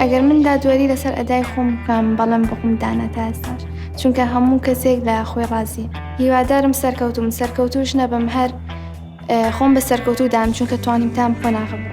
ئەگەر من دادوەری لەسەر ئەدای خۆم بکەم بەڵم بقوم دانە تا ئێستاش چونکە هەموو کەسێک لە خۆی ڕازی هیوادارم سەرکەوتوم سەرکەوتوش نەبم هەر خۆم بە سەرکەوتوو دام چونکە توانیم تام خۆ ناغبم.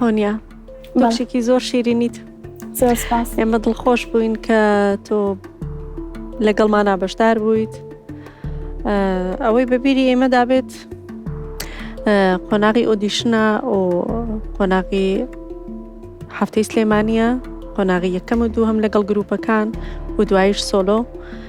هۆنیا بەشێکی زۆر شیرینیت زۆر سپاس ئێمە دڵخۆش بووین کە تۆ لەگەڵمانە بەشدار بوویت ئەوەی بەبیری ئێمە دابێت قۆناغی ئۆدیشنە و قۆناغی هەفتەی سلێمانە قۆناغی یەکەم و دووهم لەگەڵ گروپەکان و دوایش سۆلۆ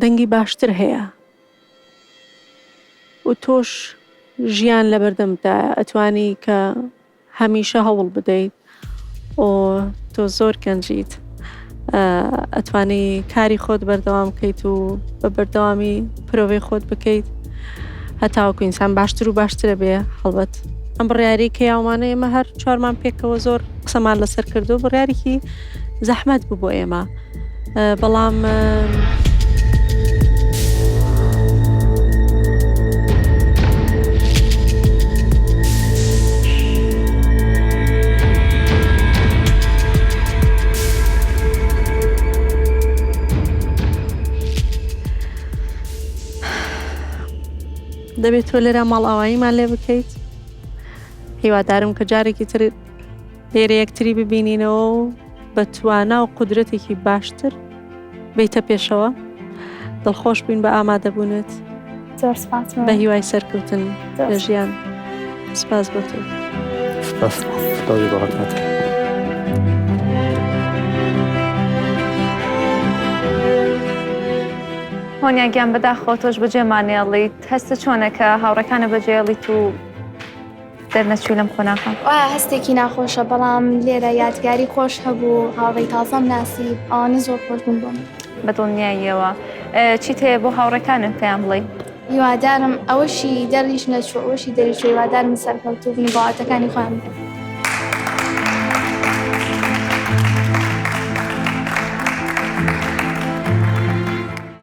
دەنگی باشتر هەیە و تۆش ژیان لەبەردەمتدایە ئەتوانی کە هەمیشە هەوڵ بدەیت و تۆ زۆر گەنجیت ئەتوانی کاری خۆت بەردەوام بکەیت و بە بەردەوامی پرۆڤەی خۆت بکەیت هەتاوەکو ئینسان باشتر و باشترە بێ هەڵبەت ئەم بڕیاری کە یاومانە ئێمە هەر چوارمان پێکەوە زۆر قسەمان لەسەر کردو بڕارێکی زەحمەت بوو بۆ ئێمە بەڵام. دەبێت تۆ لێرە ماڵئاواییمان لێ بکەیت هیوادارم کە جارێکی تر. لێرە یەکتری ببینینەوە و بە توانا و قودرەتێکی باشتر بیتە پێشەوە دڵخۆش بووین بە ئامادەبوونت زۆر سپاس بە هیوای سەرکەوتن لە ژیان سپاس بۆ تۆ سپاس سپاس بۆ حکومەتەکە هۆنیاگیان بەداخەوە تۆش بەجێمانێڵیت هەستە چۆنەکە هاوڕەکانە بەجێڵیت و دەرنەچووی لەم قۆناخە. وایە هەستێکی ناخۆشە بەڵام لێرە یادگاری خۆش هەبوو هاوڕێی تازەم ناسی ئەوانە زۆر خۆش بوون بۆم بەدڵنیاییەوە چیت هەیە بۆ هاوڕێکانت پێیان بڵێ هیوادارم ئەوەشی دەڕیش نەچوو ئەوەشی دەریش هیوادارم سەرکەوتوو بن بەڵاتەکانی خۆیان بن